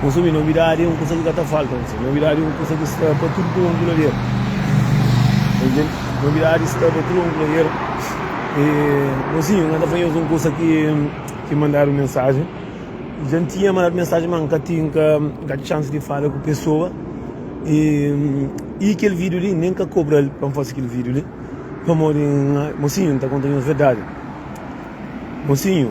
Konsome novidadi é un kusa ki ka ta falta. Novidadi é un kusa ki sta pa tudu prontu la bera. Novidadi sta pa tudu prontu la bera. E gosinhu n ka ta fla nhos un kusa ki mandadu mensajen. N dja tinha mandadu mensajen ma n ka tin ka txans di fala ku pesoa. I kel video li nen ka kobra el pa n fase kel video li pamodi n. Mosinhu n ta konta nhos verdadi mosinhu.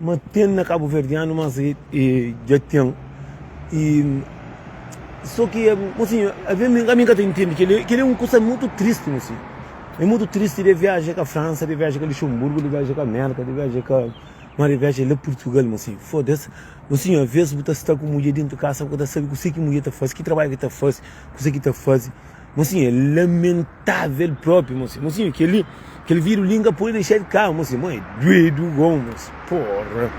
Ma ten na kabuverdianu mas e dja ten e so ki e mosinho a ve mi ka mi ka ta intendi keli keli é un kusa mutu tristi mosinho é mutu tristi de viaja ka fransa de viaja ka luxemburgo de viaja ka merka de viaja ka ma de viaja la purtugal mosinho fodas mosinho a ves bu ta sta ku mudje dentu kasa bu ka ta sabe kuse ki mudje ta fase ki trabadju ki ta fase kuse ki ta faze mosinho é lamen Tava el propi mosi mosinhu keli kel vidru li inga podi dexal kau mosi mo é duedu gon mosi porra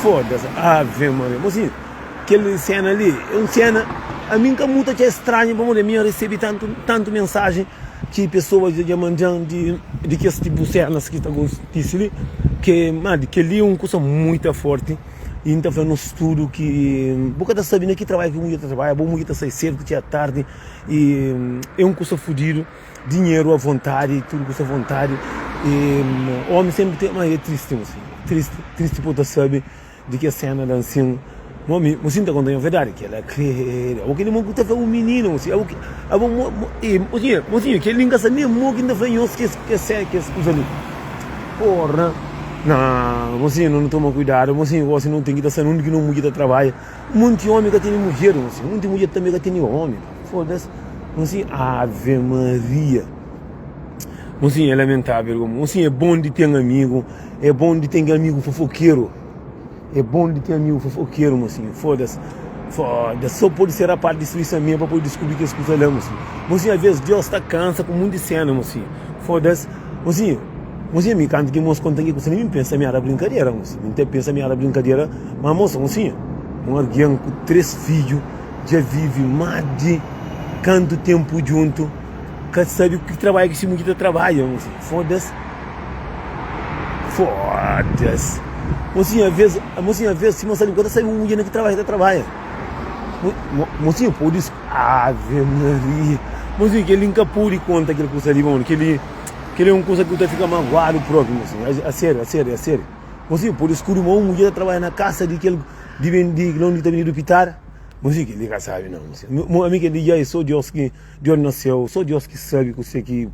fodas ave maria mosinhu kel sena li é un sena a mi nka muta txeu estranhu pamodi a mi nha resebi tantu tantu mensajen ki pesoas dja dja mandjan di di kes tipu senas ki ta kontise li ke ma di keli é un kusa muita forti i nta fla nos tudu ki bo ka ta sabi na ki trabalhu ki mudjer ta trabadja bo mudjer ta sai sedu ta txia tardi E é un kusa fudidu Dinheru a vontadi Tudu kusa a vontadi E omi senpri ten ma é tristi Mo sinta tristi Tristi po ta sabe Di kes sena da nsin Mo ami Mo sinta konta nha verdadi Kel la kre Abo kel li mon ku ta fla un mininu Mo si abo kel Abo mo mo e Mo sinha Mo sinha kel li n ka sa nen mo ki n ta fla nhos kes kes se kes kusa li Porra Naa Mo sinha no nu toma kuidadu Mo sinha gosi no ten ki ta sa nunde ki no mudja ta trabadja. Munti omi ka tene mudjer un si munti mudjer tanbe ka tene omi fodas un si ave maria un si é lamentável gomo un si é bom di ten amigo é bom di ten amigo fofokeiro é bom di ten amigo fofokeiro mon si fodas fodas só pode ser rapaz di sui sa meba pode descobrir kes kusa la mon si mon si a vez Deus ta cansa ku munti cena mon si fodas mon si Mos i ami, kantu ki mos konta ki kusa li, mi N pensa mi éra brinkadera. Mos i ami, N ta pensa mi éra brinkadera, má mos ta konsiña. Un algen ku três fidju dja vive más di kantu ténpu djuntu, ka sabe ki trabadju ki se mudjer ta trabadja. Mos i ami, Foda-s! Foda-s! Mos i ami, Aves, mos i ami, aves, si mos sta li bu ka ta sabe un mudjer na ki trabadju ki ta trabadja. Mos i ami, Pode-s! Ave Maria! Mos i ami, Kel-li N ka pode konta kel kusa li, ma mano, kel-li. Kel-li é un kuza ki bu ta fika maguadu propi, mi sinhor. É, é sériu, é sériu, é sériu. Bo sibi, pode skuri ma un mudjer ta trabadja na kasa di kel di ben di la undi ta ben di dupitara? Bo sibi, kel-li ka sabi, nau, mi sinhor. Mo, ami kel di dja, é sô Deus ki, Deus na séu, sô Deus ki sabi kuse ki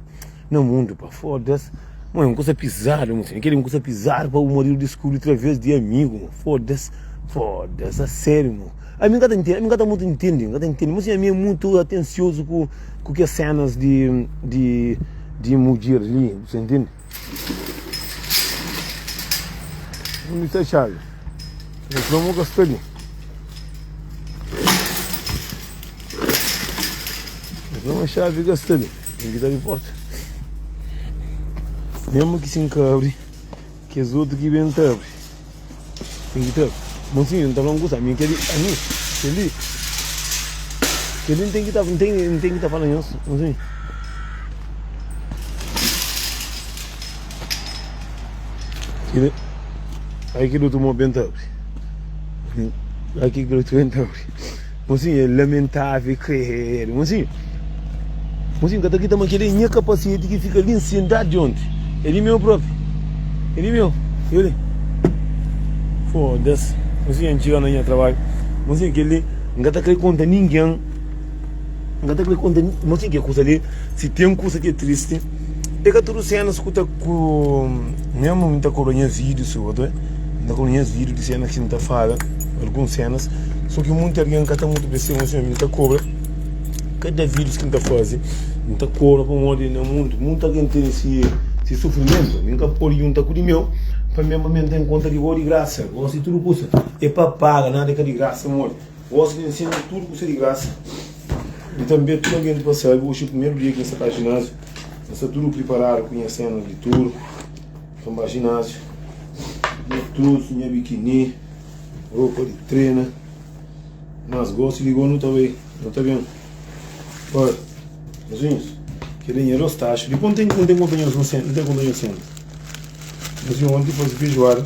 na mundu, pa. Fóda-s! Mo, é un kuza pizadu, mi sinhor. Kel-li é un kuza pizadu pa bu maridu diskubri través di amigu, mo. Fóda-s! Fóda-s! É sériu, mo. Ami n ka ta ntende, ami n ka ta mutu ntende, n ka ta ntende, ma si ami é mutu atensiozu ku ku kes sénas di di di mudjer li, bu sta ntende. Undi sta xavi? Kel fla mo ka sta li. Kel fla ma xavi ka sta li, ten ki ta abri porta. Mésmu ki si n ka abri. Kes otu ki ben ta abri ten ki ta abri. Monsinhu N ta fla-m kusa, ami kel-li, ami kel-li, kel-li N ten ki ta, N ten, N ten ki ta fala nhos, monsinhu. Kel-li, ai kel otu mó ben ta abri, ai kel otu ben ta abri. Mozinhu é lamentável, kredo. Mozinhu, mozinhu ka ta krita ma kel-li é nha kapaseti ki fika li nsendadu onti. É di meu propi. É di meu. Kel li. Foda-s. Mozinhu, N txiga na nha trabadju. Mozinhu, kel-li N ka ta kre konta ningen. N ka ta kre konta. Mozinhu, kel kusa li, si ten kusa ki é tristi. É ka tudu sénas ku ta ku mesmu n ta kobra nhas vídiu si otu é n ta kobra nhas vídiu di sénas ki n ta fala alguns sénas so ki munti algen ka ta mutu pa es ta imosiona mi n ta kobra kada vídius ki n ta faze n ta kobra pamodi na mundu munti algen tene si si sufrimentu mi n ka pode junta ku di meu pa mi pa mi n ten konta di bo di grasa gosi tudu kusa é pa paga nada é ka di grasa modi. Gosi di ensina tudu ku se di grasa i tanbê tudu algen di pa sabi oxi primeru dia ki nha sta ka jináziu nha sta tudu priparadu ku nha sena di tur pa mba jináziu nha trus nha bikini ropa di trena mas gosi di gonu ta bai nu ta ben pa nhas unhas kel li nha dos taxu di ponten ki nu ten konta nhas nu sen nu ten konta nhas sen nhas unhas onti fazi feijoada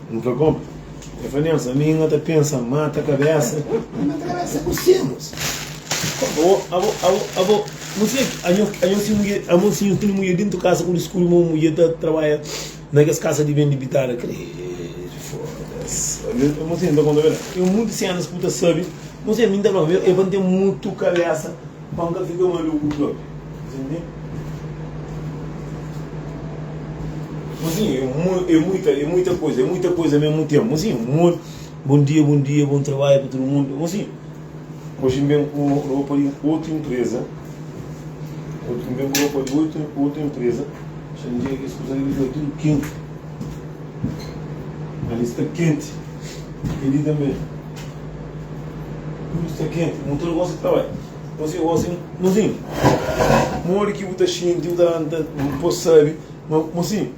N fla kómu? El fla, Nelson, ami N ta pensa mata kabésa. N mata kabésa ku senus. Kómu? Abo, abo, abo, nu fla ki anho, anho si mudje, amo si nhu tene mudje dentu kasa ku diskuri ma un mudje ta trabadja na kes kasa di bende bitada. Krédu, fóda-s. Amo si N ta konta bera. É muntu senus ku bu ta sabe. Amo si ami N ta fla-m, é pa N ten mutu kabésa. Pa N ka fika maluku propi. Ntende? Mozinhu, e mu, e muita, e muita koisa, e muita koisa me mu ten. Mozinhu, mu, bom dia, bom dia, bom trabalho pa tudo mundo. Mozinhu, hoje N ben ku ropa di otu empresa. Hoje N ben ku ropa di otu, otu empresa. Xa N diga kes kuza li ki ta tudo kenti. Ali sta kenti. Kenti tanbe. Tudu sta kenti, nu tra gosi ta bai Gosi é gosi Mozinhu, modi ki bu ta xinti bu ta da-m ta bu pô sabe ma Mozinhu,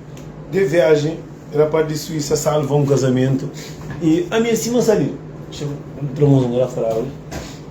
de viajen rapaz di Suísa salva un kazamentu i ami é sima salida Xefe, nu tra Mozinhu, el a fla-l.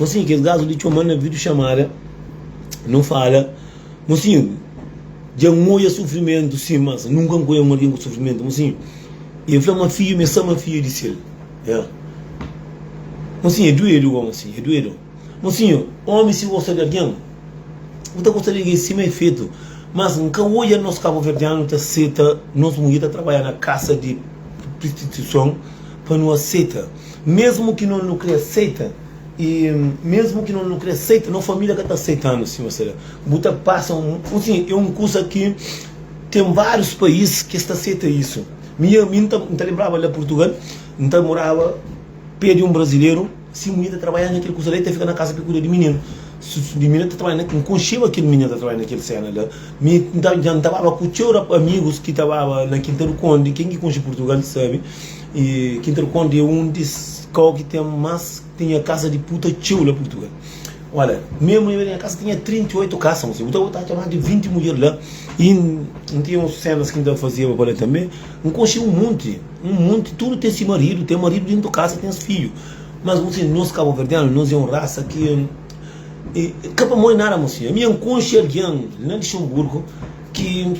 Mosinhu, kes gazu li txoma-l na vidu xamada, nu fala, Mosinhu, dja N odja sufrimentu sin, mas nunka N konhe un algen ku sufrimentu, mosinhu, e fla ma fidju me sa ma fidju e dise-l, Ya, mosinhu, e duedu goma asi, e duedu, mosinhu, omi si gosta di algen, bu ta gosta di algen sima e fetu, mas N ka odja nos kabuverdianu ta seta nos mudjer ta trabadja na kasa di pristituison pa nu aseta. Mesmu ki no nukria seita i mesmu ki no nukria seita no familia ka ta seitanu sima se da bu ta pasa un usin e un kusa ki ten varius pais ki es ta seita isu mi ya mi nta nta lembraba la purtugal nta moraba pe di un brazileru si mui ta trabaiaba na kel kusa la e ta fika na kasa pe kuida di mininu su su di mininu ta trabaiaba na nkunshiba kel mininu ta trabaiaba na kel sena la mi nta nta baba ku txeu ra amigus ki ta baba na kinta di kondi ken ki kunshi purtugal sabi E kinterkonde é un di kau ki ten más tinha kasa di puta txeu la purtugal ola me mui na nha kasa tinha 38 kasa muse bu ta ta atxa más di 20 mudjer la e n tinha un senas ki n ta fazeba pa la tanbe n konxe un monti un monti tudu ten si maridu ten maridu dentu kasa ten fidju mas bu sabe nos kabuverdianu nos é un rasa ki ka pamodi nada muse ami nha konxe algen na lixenburgu ki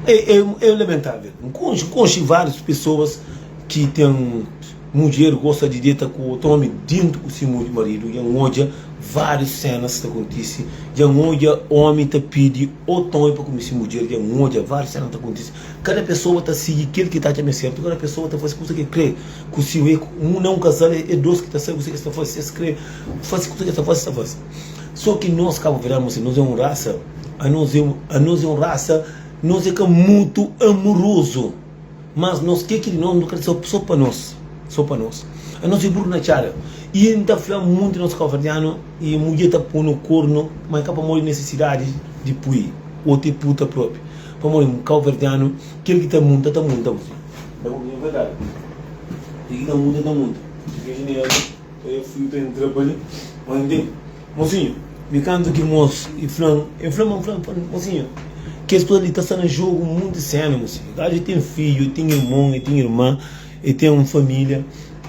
é lamentável. N konxe várius pesoas ki ten mudjer gosta di deta ku otu ómi dentu ku se maridu. Dja N odja várius sénas ta kontise. Dja N odja ómi ta pidi otu ómi pa kume se mudjer. Dja N odja várius sénas ta kontise. Kada pesoa ta sigi kel ki ta atxa ma é sértu. Kada pesoa ta fase kusa ki el kre. Ku si un é un, na un kazal é dos ki ta sabe kusa ki es ta fase. Si es kre fase kusa ki es ta fase, es ta fase. Só ki nos kabuverdianu se nos é un rasa anos é anos é un rasa nos é ka mutu amurozu mas nos ke ki di nos nu kre so so pa nos so pa nos anos é buru na txada y n ta fla munti nos kabuverdianu y mudje ta punu kornu ma é ka pamodi nesisidadi di pui o te puta propi pamodi kabuverdianu kel ki ta munta ta munta bu fla un verdadi kel ki ta munta ta munta. N flu pa el ntra pa li, ma N dil, Mosinhu, mi kantu ki mos? El fla, el fla ma N fla pa N, Mosinhu, kes kuza li ta sta na jogu munti sénu, mosinhu. Gaji el ten fidju, el ten irmon, el ten irman, el ten un família.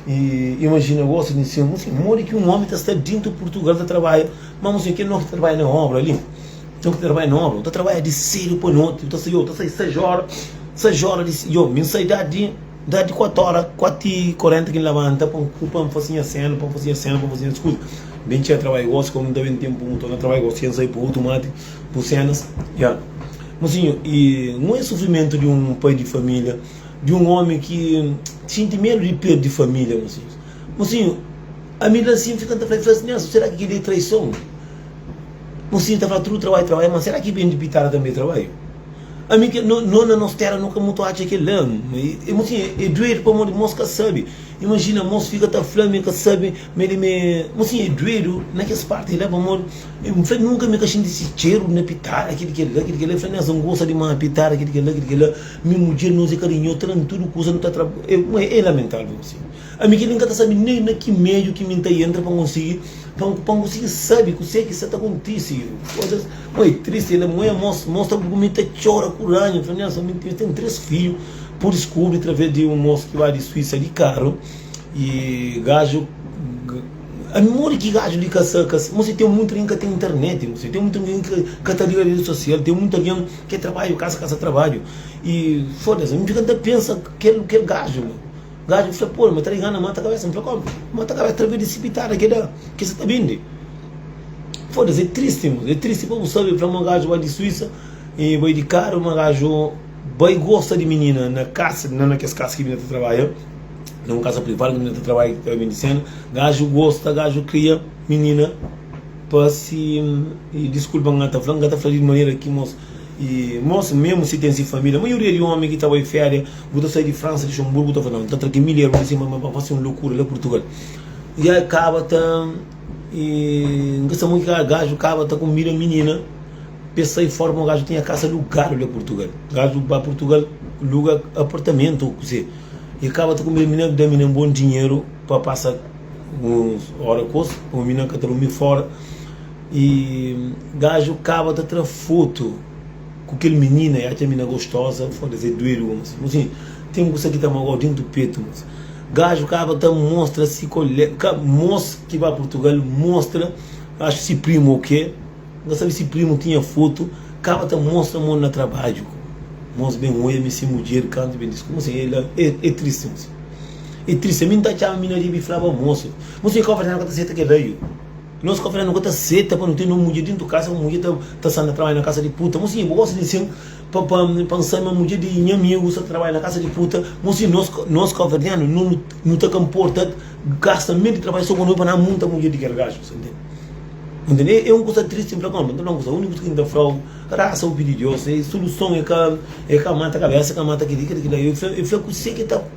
I imajina gosi di nsin, mosinhu, modi ki un ómi ta sta dintu Purtugal ta trabadja? Ma, mosinhu, kel noki ta trabadja na óbra li, noki ta trabadja na óbra, bu ta trabadja di sédu pa noti, bu ta sai, yo ta sai sais óra, sais óra di, yo mi N sai da di. Dja di kuatu óra, kuatu i korenta ki N labanta pa N ku, pa N fase nha senu, pa N fase nha senu, pa N fase nha kuza. Ben txeu trabai gosi, komu N ta ben tenpu mutu, na trabai gosi, txeu N sai pa otu mati, bu senus, ya. Mosinhu, i nhu e sufrimentu di un pai di familia, di un omi ki ta xinti medu di perdi familia, mosinhus. Mosinhu, ami la si N fika N ta fla, fla si nhas, sera ki kel-li e traison? Mosinhu ta fla tudu trabai, trabai, ma sera ki ben di pitada tanbe e trabaiu? Ami ke no no na nos tera no ka mutu atxa kel la e mo sin e duedu pamodi mos ka sabi imajina mos fika ta fla mi ka sabi me li me mo sin e duedu na kes parti la pamodi mi fla nunka mi ka xinti si txeru na pitada kel kel la kel kel la e fla mi asa n gosa dimas pitada kel kel la kel kel la mi mudjer nos e karinhozu tra na tudu kusa no ta tra e lamentável mo sin. Ami ki mi nka ta sabi nen na ki meiu ki mi nta entra pa nkonsigi pa nkonsigi sabi kuse ki sa ta kontisi kosas mo e tristi el mo e mos mostra bu ku mi ta txora ku ranha mi fla nelson mi mi ten tres fidju pudi skubri traves di un mos ki ba di suisa di karu y gaju ami modi ki gaju li ka sa ka mo si ten mutu algen ka ten internet mo si ten mutu algen ki ka ta liga redi sosial ten mutu algen ke trabadju kasa kasa trabadju y foda se ami fika ta pensa kel kel gaju Gaju ki fla pô-l ma ta liga na mata kabésa. N fla kómu? Mata kabésa ta bidi sipitada ki é da ki sa ta bindi. Foda-s, é tristi mos. É tristi pa bu sabe. N fla ma gaju bai di Suísa i bai di karu ma gaju bai gosta di minina na kasa, na na kes kasa ki minina ta trabadja. Na un kasa prival ki minina ta trabadja ki ta bindi sena. Gaju gosta, gaju kria minina pa si. Diskulpa, N ka ta fla, N ka ta fla di manera ki mos. E mosi memu si ten si família maioria di omi ki ta bai féria bu ta sai di fransa luxemburgo bu ta fla nau ta tra ki milher bu ta sima ma fasi un lokura la purtugal ya e kaba ta e n ka sa mo ki ka gaju kaba ta konbida minina pa e sai fora pamodi gaju tinha kasa lugadu la purtugal gaju ba purtugal luga apartamentu o kuzê e kaba ta konbida minina da minina un bon dinheru pa pasa uns ora kos pamodi minina ka ta durmi fora E gaju kaba ta tra foto ku kel minina e atxa mina gostoza foda se duedu bo mos mos sim ten kusa ki ta magoa dintu petu mos gaju kaba ta mostra si kole ka mos ki ba purtugal mostra axu si primu o ke nka sabi si primu tinha foto kaba ta mostra mon na trabadju ku mos ben oia mi si mudjer kantu ben disku mos sim e tristi mos sim e tristi mi nta atxaba mina ribi flaba mos mos sim e kova dja nka ta seta ke daju. Nos ka fla nu ka ta seta pa nu ten nos mudjer dentu kasa, un mudjer ta sta na trabadja na kasa di puta. Mon sinha, bu gosta di nsin pa nsa ma mudjer di nha amigu sta ta trabadja na kasa di puta? Mon sinha, nos kabuverdianu nu ta ka nporta gasta mel di trabadja so ku nomi pa na munta mudjer di kel gaju. Bu ntende? E un kusa tristi N fla ku anu, N ta fla un kusa, uniku kusa ki N ta flau, rasa u pidi Dios, suluson e ka mata kabesa, e ka mata kel li, kel li, kel la. E fla, e fla kuse ki ta.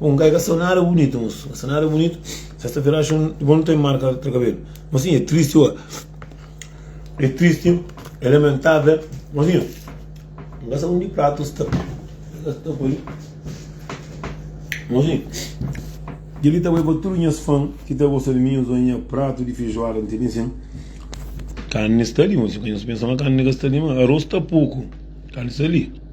Un gai ka sa nada bunitu moço ka sa nada bunitu sexta feira acho bo nu tem marca tra cabelo mocinho é triste oa é triste é lamentável mocinho um ka sa undi pratos ta ta poi mocinho dili ta bai pa tudo nhas fã ki ta gosta de mim oa nha prato de feijoada não tem nem sem carne está ali moço pensa ma carne ka sta ali ma arroz ta pouco carne está ali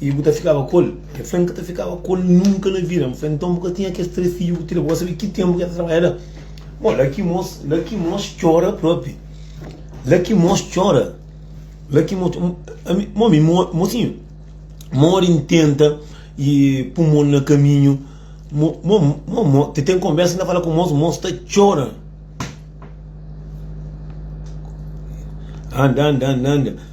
I bu ta fikaba ku el? El fla, N ka ta fikaba ku el nunka na vida. N fla, Nton bu ka tinha kes três fidju ku tira, bu ka sabe ki ténpu ki el ta trabadja la? Bon, Lakimôs, Lakimôs txora própi. Lakimôs txora. Lakimôs, ami, mo, ami, mo, mosinhu, modi N tenta i pun mon na kaminhu, mo, mo, mo, mo, ti ten konbérsa ki N ta fala ku mos, mos ta txora. Anda, anda, anda, anda.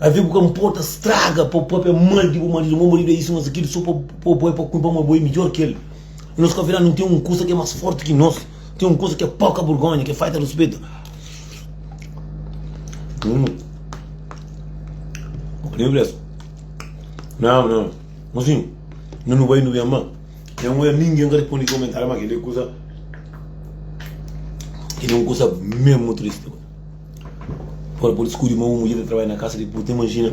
Ave bu ka nporta straga pa bu pape é mal di bu marido mo marido é isu mas akili so pa pa bo é pa kulpa ma bo é midjor ki el nos ka fela nu tem um kusa ke é mas forti ki nos tem um kusa ke é poka burgonha ke é faita ruspetu nao nao mosinho na nu bai nu bem ma tem um erro ninguem ka respondi komentariu ma keli é kusa keli é um kusa mesmu tristi. Agora pode skudi ma un mudjer ta trabadja na kasa di puta. Imajina,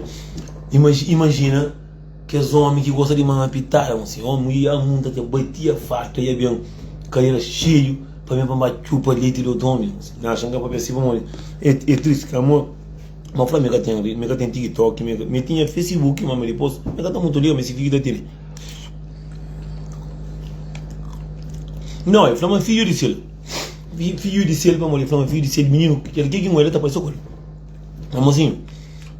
imaj, imajina kes omi ki gosta di mama pitada, ma se omi ia munta ta batia fartu, ia ben kadera xeiu pa ben pa ba txupa leti di otu omi. N axa nka papia si pamodi e, e tristi ka amor? Mba fla mi ka ten, mi ka ten tiktok, mi ka, mi tinha facebook ma mi dipos mi ka ta mutu liga mi si fiju ta tene. No, e fla ma fiju di sil. Vi, fiu di sel, pamodi fla ma fiu di sel, mininu, kel ki ki mo el ta parse ku el. Ma mozinhu,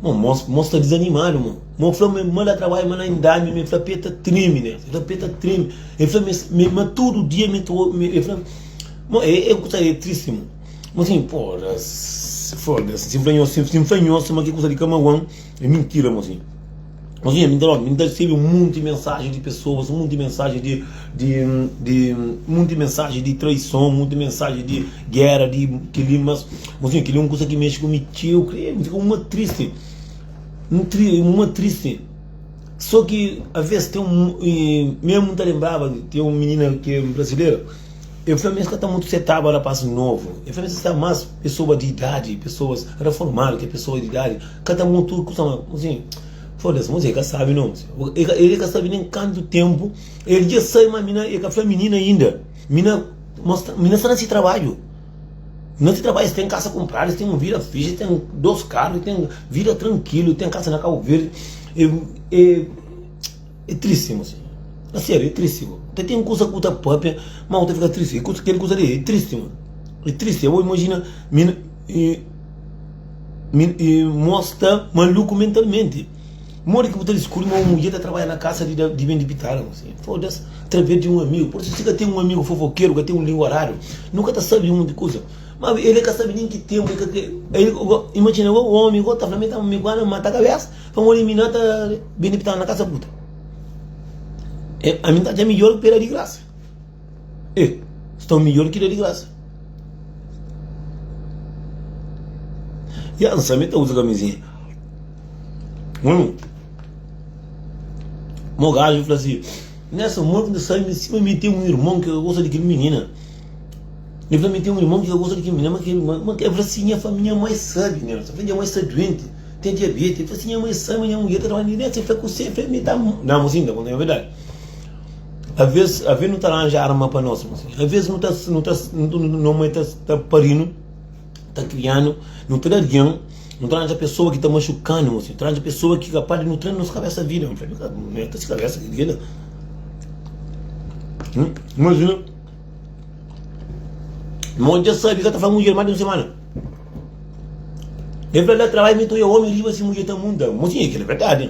mo, mo, mo sta dizanimadu, mo. Mo fla ma ma la trabadja, ma la indami, ma el fla pé ta trimi, né. El fla pé ta trimi. El fla mes, me, ma tudu dia mi ta obi, el fla. Mo, e, e kusa e tristi, mo. Mozinhu, podas, foda-s, si n fla nhos, si n fla nhos ma ki kusa di kamauan, e mintira, mozinhu. Mas nha, mi ta dómi, mi ta resebe un monti mensaji di pesoas, un monti mensaji di, di, di, un monti mensaji di traison, un monti mensaji di géra, di kel-li. Mas, mas nha, kel-li é un kuza ki mexe ku mi txeu, krê-m, mi fika un ma tristi. Un tri, un ma tristi. Sô ki avês ten un, i mésmu N ta lenbraba di ten un minina ki é brazileira, el fla-m ma es ka ta mutu setaba rapás novu, el fla-m ma es ta seta más pesoba di idadi, pesoas reformadu, ki é pesoas di idadi. Ka ta mutu kusa ma Muzinhu Foda-s, Muzinhu ka sabe no El e ka sabe nen kantu tenpu El dja sai ma mi na E ka fla mi nina inda Mi na mostra Mi na sta na si trabadju Mi na si trabadju Es ten kasa kunpradu Es ten un vida fixi Es ten dos karu Es ten vida trankilu E ten kasa na Kabu Verdi E e e tristi Muzinhu A serio e tristi bo Ta ten kusa ku ta papia ma bu ta fika tristi Kel kusa li e tristi mano E tristi E bo imajina mi na. e, e mos ta maluku mentalmente. Modi ki bu ta descobri ma un mudjer ta trabalha na casa de, de bem de pitada? Foda-se, através de um amigo. Por isso, se ka tem um amigo fofoqueiro, ka tem um língua raro, nunca ta sabe um monte de coisa. Mas ele ka sabe nem que tempo, ele ka tem. Ele, imagina, o homem, o ta fala, tá me guarda, mata a cabeça, para morrer, mina, tá bem de pitada na casa puta. É, a mim tá já melhor que pera de graça. E, sta midjor ki da di grasa. Ya, N sa mi ta uza kamizinha. Hum. Mo gajo fla si, Nessa morte de sangue, em cima me tem um irmão que gosta de que menina. Ele fala, me tem um irmão que gosta de que menina, mas que irmão, mas ele fala assim, minha família mais sabe, né? Só minha mãe está doente, tem diabetes. Ele fala assim, minha mãe sabe, minha mulher está trabalhando, né? Você fica com você, me dá... Não, mocinho, não é verdade. Aves, aves nu ta ranja arma pa nos mesmu. Aves nu ta, nu ta, no mai ta, ta parinu, ta krianu, nu ta da rian, nu ta ranja pesoa ki ta maxukanu mesmu, ta ranja pesoa ki kapaz di nu tra na nos kabesa vida. N fla, nu ta si kabesa ki vida. Imajina, mo dja sabi ka ta fla mudjer ma di un semana. E fla la, trabai mi ta oi'a omi riba si mudjer ta munda. Mo tinha ki la verdadi.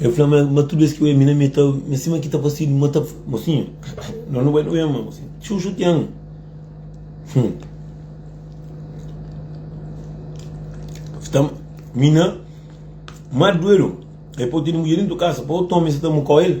El fla ma, ma tudu bes ki oja mi na metal, mi sima ki ta pasidu ma ta. Mosinhu, no nu bai na oja ma, mosinhu. Txeu xutia-m. Hum. Fta, mi na. Mar di duedu, el pô-u tene mudjer dentu kasa, pa otu omi sa ta amukô el.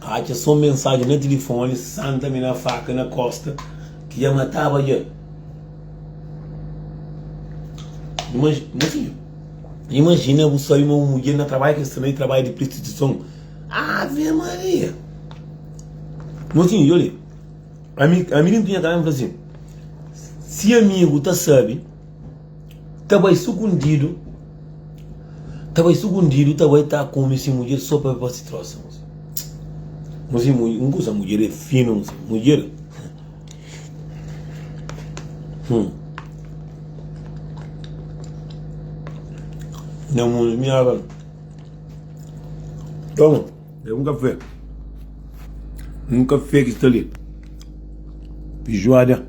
Atxa son mensajen na tilifoni Santa mi na faka na kosta ki dja mataba dja Imajina bu sabe ma bu mudjer na trabadja ki el sta na trabadja di pristituison Ave Maria Mosinhu dja li Ami ami di npinha kanal mi fla si Si amigu ta sabe Ta bai sugundidu, ta bai sugundidu, ta bai ta kome si mudjer so pa pa si trosa. Muse mu, un kusa mudjer e finu muse, mudjer. Hum. Não, mano, minha água. Toma, é um café. Um café que está ali. Feijoada.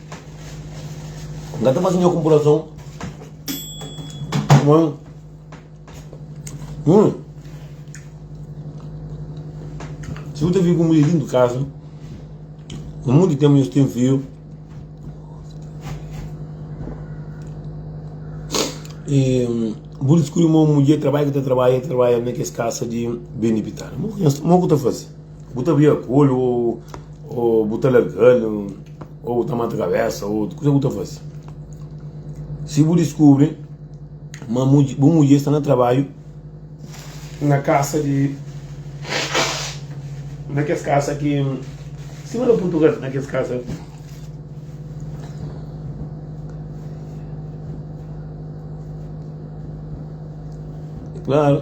Nga ta faze nha konpurason Mon Mon Si bu ta vive ku mudjer dintu kaza Pa monti tenpu nhos ten fidju E bu diskubri ma un mudjer trabai ki ta trabai, trabai na kes kasa di ben di pitara Mon ku nhos, mon ku ta faze? Bu ta vira kolu ou bu ta larganu ou bu ta mata kabesa ou kusa ki bu ta fasi. Si bu diskubri ma bu mudjer sta na trabadju na kasa di na kes kasa ki sima na purtugal na kes kasa klaru.